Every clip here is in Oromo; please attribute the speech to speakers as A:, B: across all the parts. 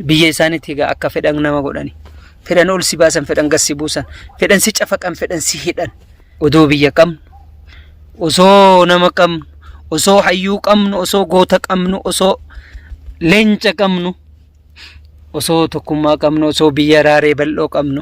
A: Biyya isaaniitti egaa akka fedhan nama godhani. Fedhan ol si baasan, fedhan gad si buusan, fedhan si cafaqan, fedhan si hidhan. Odoo biyya qabnu, osoo nama qabnu, osoo hayyuu qabnu, osoo goota qabnu, osoo leenca qabnu, osoo tokkummaa qabnu, osoo biyya raaree bal'oo qabnu.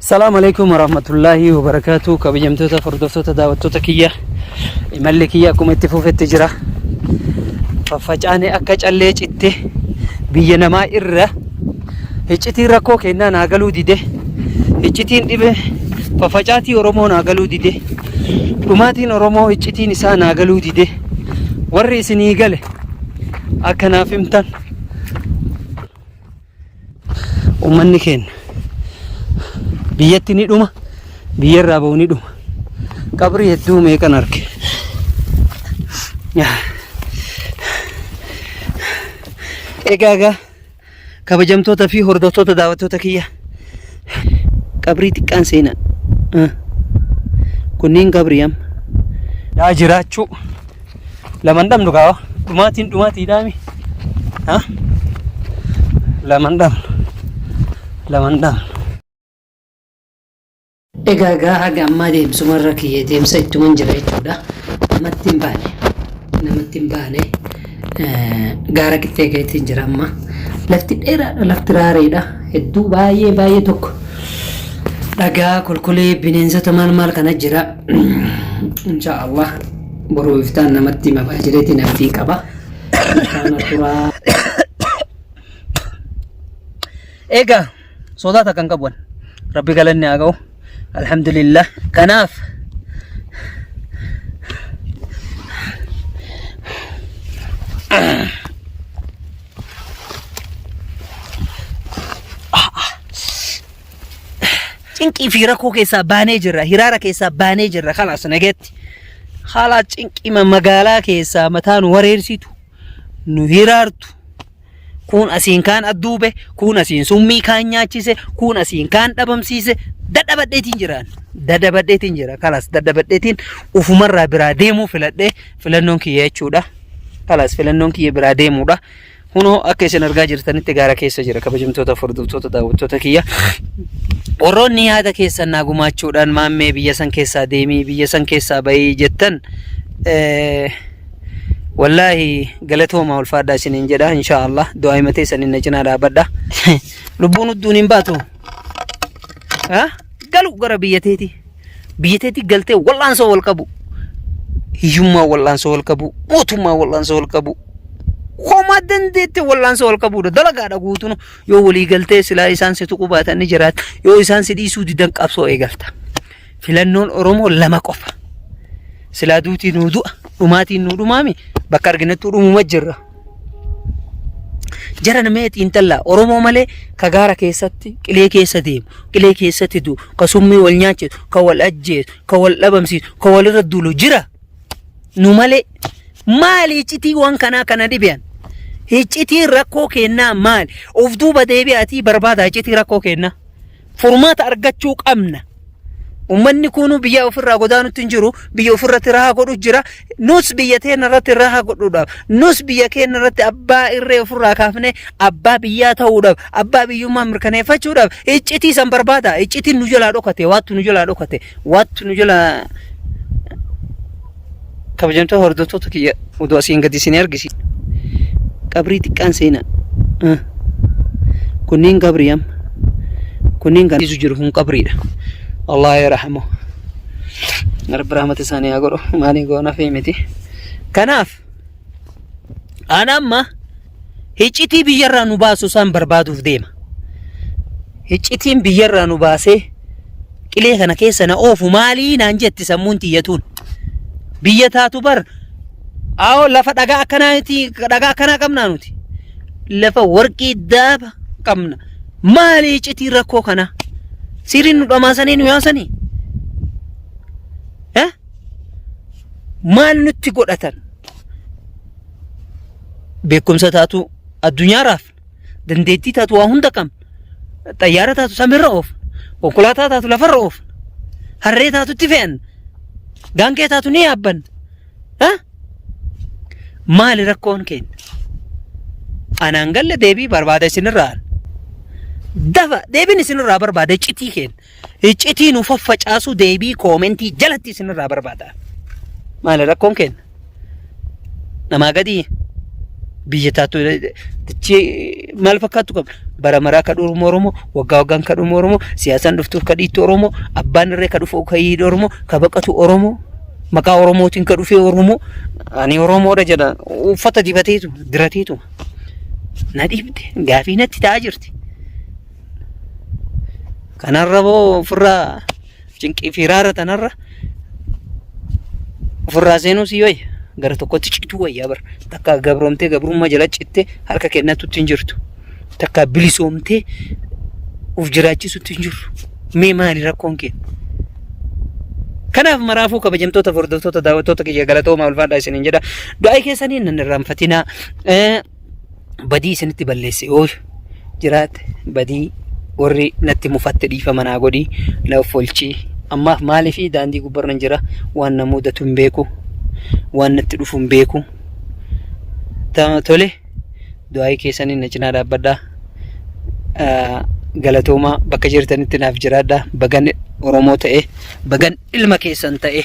A: Salaam alaikum warahmatullahi wabarakatuh kabajamtoota hordoftoota daawwattoota kiyya imalli kiyya akkuma itti fufetti jira faffacaane akka callee citte biyya namaa irra hiccitiin rakkoo kennaa naa galuu dide hiccitiin dhibe faffacaatii oromoo naa galuu dide dhumaatiin oromoo hiccitiin isaa naa galuu dide warri isinii gale akka naaf himtan Uummanni keenya biyyatti ni dhuma, biyya irraa ba'u ni dhuma. Qabrii hedduu meeqan arge. Egaa egaa kabajamtoota fi hordoftoota daawwattoota kiyya. qabrii xiqqaan seenaa Ah. kunniin qabrii amma yaa jiraachuu laman dhabnu kaa dhumaatiin dhumaatii dhaami Ah. laman dhabnu laman dhabnu Egaa egaa haga ammaa deemsumarra kiyya deemsa ittuman jira jechuudha. Namatti hin baane. Namatti hin baane. gaara qixxee keetiin jira amma lafti dheeraadha lafti raareedha hedduu baay'ee baay'ee tokko dhagaa kolkolee bineensota maal maal kana jira insha allah boruu iftaan namatti mabaa jireetiin abdiin qaba Kana turaa Egaa sodaa takka hin qabu rabbi galanni haa ga'u alhamdulillah kanaaf cinqii fi rakkoo keessaa baanee jirra hiraara keessaa baanee jirra kanas nageetti haalaa cinqima magaalaa keessaa mataan wareersitu nu hiraartu kuun asiin kaan adduube kuun asiin summii kaan nyaachise kuun asiin kaan dhabamsiise dadhabadheetiin jiraan dadhabadheetiin jira kalas dadhabadheetiin ufumarraa biraa deemuu filadhee filannoon kiyya jechuudha kalas filannoon kiyya biraa deemuudha kunoo akka isin argaa jirtanitti gaara keessa jira kabajamtoota furdurtoota daawwattoota kiyya warroonni yaada keessan naa gumaachuudhaan maammee biyya san keessaa deemii biyya san keessaa bahii jettan eh, Wallaahi galatoomaa ulfaadhaa isiniin jedha inshaa Allah du'aa himatee saniin na cinaa dhaabadha. Lubbuun udduun hin baatu. Ha? Galu gara biyya teeti. Biyya teeti galtee wal'aansoo wal qabu. Hiyyummaa wal'aansoo wal qabu. Mootummaa wal'aansoo wal qabu. Homaa dandeette wal'aansoo wal qabuudha. Dalagaadha guutuun yoo walii galtee silaa isaan si tuquu baatan ni jiraata. Yoo isaan si dhiisuu didan qabsoo eegalta. Filannoon Oromoo lama qofa. Silaa duutii nuu du'a, dhumaatiin nuu dhumaami bakka arginattuu dhumuma jirra. Jara namee xiinxallaa Oromoo malee ka gaara keessatti qilee keessa deemu, qilee keessatti du'u, ka summii wal nyaachisu, ka wal ajjeesu, ka wal dhabamsiisu, ka walirra duulu jira. Nu malee maali iccitii waan kanaa kana dhibean? Iccitiin rakkoo kennaa maali? Of duuba deebi'aatii barbaadaa iccitii rakkoo kennaa. Furmaata argachuu qabna. Ummanni kuunuu biyya ofirraa godaanutti hin jiru. Biyya ofirratti rahaa godhu jira. Nus biyya teenya irratti rahaa godhuudhaaf. Nus biyya keenya irratti abbaa irree ofirraa kaafnee abbaa biyyaa ta'uudhaaf. Abbaa biyyummaa mirkaneeffachuudhaaf. Iccitii san barbaada. Iccitiin nu jalaa dhokate. Waattu nu jalaa dhokate. Waattu nu jalaa Kabajamtoota hordoftoota kiyya oduu asiin gadi isin argisiisa. Qabrii xiqqaan seenaa. Ah. Kunniin qabrii amma. Kunniin kan dhiisu jiru kun qabriidha. Allah yaa rahamu. Rabbi rahmata isaanii haa godhu. Maalii goona fi miti. Kanaaf ana amma Hiccitii biyyarraa nu baasu isaan barbaaduuf deema. Hiccitiin biyyarraa nu baasee qilee kana keessa na oofu maalii naan jetti sammuun tiyyatuun. Biyya taatu bar aawoo lafa dhagaa akkanaati dhagaa akkanaa qabnaa nuti. Lafa warqii daaba qabna. Maali hiccitii rakkoo kanaa? Siriin nu dhamaasanii nu yaasanii? Eh? Maal nutti godhatan? beekumsa taatu addunyaa raafna dandeettii taatu waa hunda qabna xayyaara taatu samiirra oofna konkolaataa taatu lafarra oofna harree taatutti fe'anna gaangee taatu ni yaabbanna Ha? maali rakkoon keenya anaan galle deebii barbaada isinirraa dafa deebiin isinirraa barbaada iccitii keenya Iccitii nu faffacaasu deebii koomentii jalatti isinirraa barbaada. Maali rakkoon keenya? Namaa gadii biyya taatu tichi maal fakkaattu qabna? Bara maraa ka dhumu Oromoo, waggaa waggaan ka dhumu Oromoo, siyaasaan dhuftuuf ka dhiittu Oromoo, abbaan irree ka dhufu ka hiidhu Oromoo, ka baqatu Oromoo, maqaa Oromootiin ka dhufee Oromoo, ani Oromoodha jedha uffata dibateetu dirateetu na dhiibde gaafii natti ta'aa jirti. Kanarra boo ofirraa cinqii fi raara tanarra ofirraa seenuu si wayya. Gara tokkotti cituu wayyaa bara. Takka gabroomtee gabrummaa jala cittee harka kennatutti hin jirtu. Takka bilisoomtee of jiraachisutti hin jirtu. Mee maali rakkoon kee? Kanaaf maraafuu kabajamtoota hordoftoota daawwattoota kiyya galatoomaa ulfaadhaa isiniin jedha. Du'aa keessaniin nan irraanfatinaa. badii isinitti balleesse yoo jiraate badii warri natti mufatte dhiifama naa godhi na offolchi ammaaf maaliif daandii gubbarran jira waan na mudatu hin beeku waan natti dhufu hin beeku Ta- tole du'aa'ii keessaniin na cinaa dhaabbadhaa Ah, galatoomaa bakka jirtanitti naaf jiraadha bagan oromoo ta'e bagan ilma keessan ta'e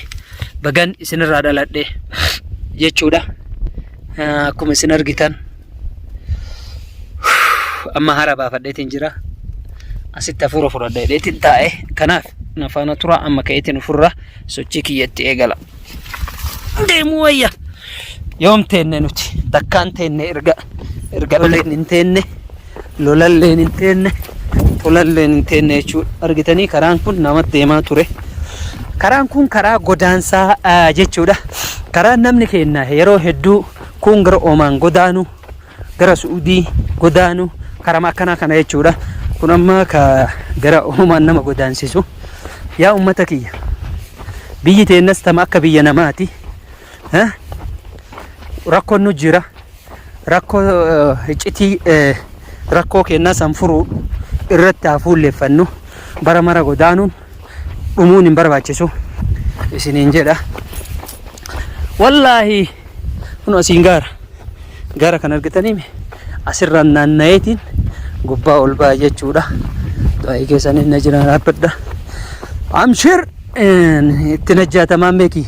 A: bagan isinirraa dhaladhe jechuudha Akkuma isin argitan amma hara baafadheetiin jira. Asitti hafuura fudhadha jedheetiin taa'e. Kanaaf na faana tura amma ka'eetiin ofirra sochii kiyyatti eegala. Deemuu wayya. Yoom teenne nuti takkaan teenne erga erga oleen hin teenne. lolalleen hin teenne tolalleen hin teenne jechuudha. Argitanii karaan kun nama deemaa ture. Karaan kun karaa godaansaa ah, jechuudha. Karaan namni keenya yeroo hedduu kun gara Omaan godaanu, gara Su'udii godaanu, karama akkanaa kana jechuudha. Kun amma ka gara Omaan nama godaansisu. Yaa ummata kiyya, biyyi teennas tama akka biyya namaati. Eh? Rakkoon nu jira. rakkoo iccitii rakkoo kennaa san furuu irratti haa fuulleffannu bara mara godaanuun dhumuun hin barbaachisu isiniin jedha wallaahi kun asiin gaara gaara kan argitanii asirraan naanna'eetiin gubbaa ol ba'a jechuudha baay'ee keessaniin na jiraan dhaabbadha amshir itti najjaatamaan beekii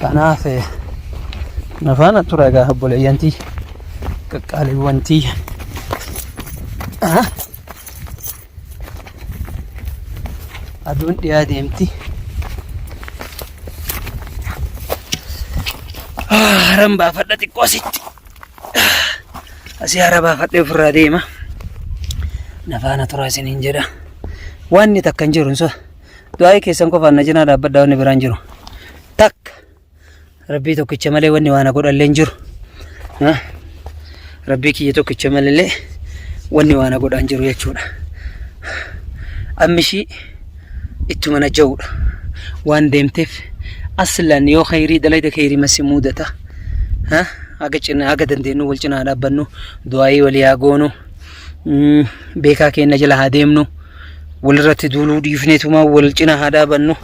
A: Kanaaf na faana tura egaa obboleeyyantii qaqqaaliiwwantii. Aduun dhiyaa deemti. Haran baafadha xiqqoo asitti. Asii hara baafadhee ofirraa deema. Na faana tura isiniin jedha. Waanni takka hin jiru hin du'aa'ii keessan qofaan na cinaa dhaabbadha wanni biraan jiru takka rabbii tokkicha malee wanni waan godhallee hin jiru Ah, rabbii kiyya tokkicha malee wanni waan godhaan jiru jechuudha ammishii ittuma na ja'uudha waan deemteef aslan yoo khayrii dalayda khayrii masi muudata Ha? haga cina haga dandeenyu wal cinaa dhaabbannu du'aa'ii walii haa goonu Mm, beekaa keenya jala haa deemnu walirratti duuluu dhiifneetuma wal cina haa dhaabannu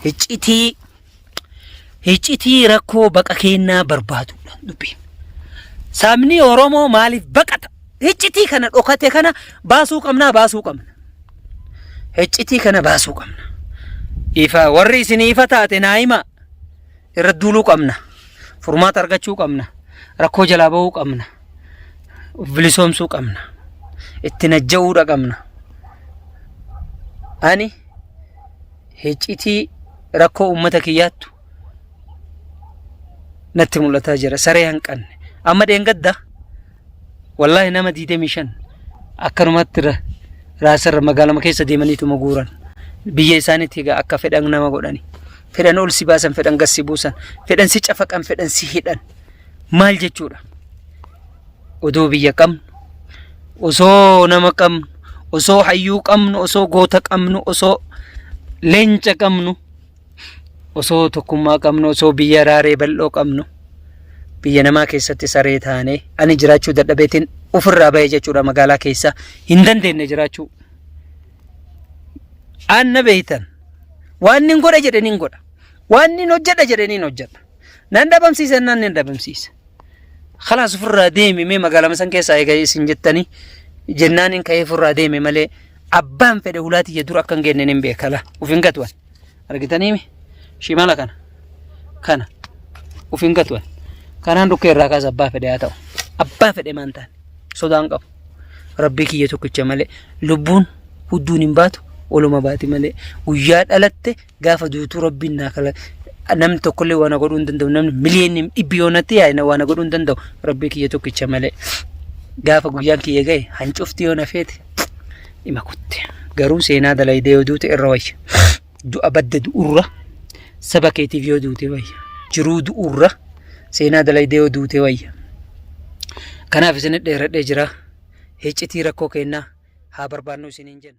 A: hiccitii hiccitii rakkoo baqa keennaa barbaadudha dubbiin. Sabni Oromoo maaliif baqata? Hiccitii kana dhokate kana baasuu qabnaa baasuu qabna. Hiccitii kana baasuu qabna. Ifa warri isin ifa taate naa hima irra duuluu qabna. Furmaata argachuu qabna. Rakkoo jalaa ba'uu qabna. of bilisoomsuu qabna itti najja'uudha qabna ani hiccitii rakkoo uummata kiyyaattu natti mul'ataa jira saree hanqanne amma dheengadda wallaahi nama 25 akkanumatti ra- raasarra magaalama keessa deemaniituma guuran biyya isaaniitti egaa akka fedhan nama godhani fedhan ol si baasan fedhan gad si buusan fedhan si cafaqan fedhan si hidhan maal jechuudha? Odoo biyya qabnu, osoo nama qabnu, osoo hayyuu qabnu, osoo goota qabnu, osoo leenca qabnu, osoo tokkummaa qabnu, osoo biyya raaree bal'oo qabnu, biyya namaa keessatti saree taanee ani jiraachuu dadhabeetiin ofirraa bahe jechuudha magaalaa keessa hin dandeenye jiraachuu. Anna beektan waan nin godha jedhe nin godha waan nin hojjedha jedhe nin hojjedha. Nan dhabamsiisa jennaan nan dhabamsiisa. Kalaas ofirraa deemi mee magaalaa masan keessaa eega isin jettanii jennaan hin ka'ee ofirraa deeme malee abbaan fedhe ulaa tiyya dura akka hin geenne hin beeka laa of hin gatuwan. Argitanii mi? Shimala kana. Kana. Of hin gatuwan. Kanaan dhukkee irraa kaasa abbaa fedhe haa ta'u. Abbaa fedhe maan ta'an. Sodaan qabu. Rabbii kiyya tokkicha malee lubbuun hudduun hin baatu oluma baati malee guyyaa dhalatte Gaafa duutu rabbiin naa kala namni tokkollee waan godhuu hin danda'u namni miliyoonni dhibbi yoonatti yaa'ina waan godhuu hin danda'u rabbii kiyya tokkicha malee gaafa guyyaan kiyya ga'e hancufti yoo na feete dhima kutte garuu seenaa dalaydee yoo duute irra wayya du'a badda du'urra saba keetiif yoo duute wayya jiruu du'urra seenaa dalaydee yoo duute wayya kanaaf isin dheeradhee jira hiccitii rakkoo kennaa haa barbaannu isiniin jenna.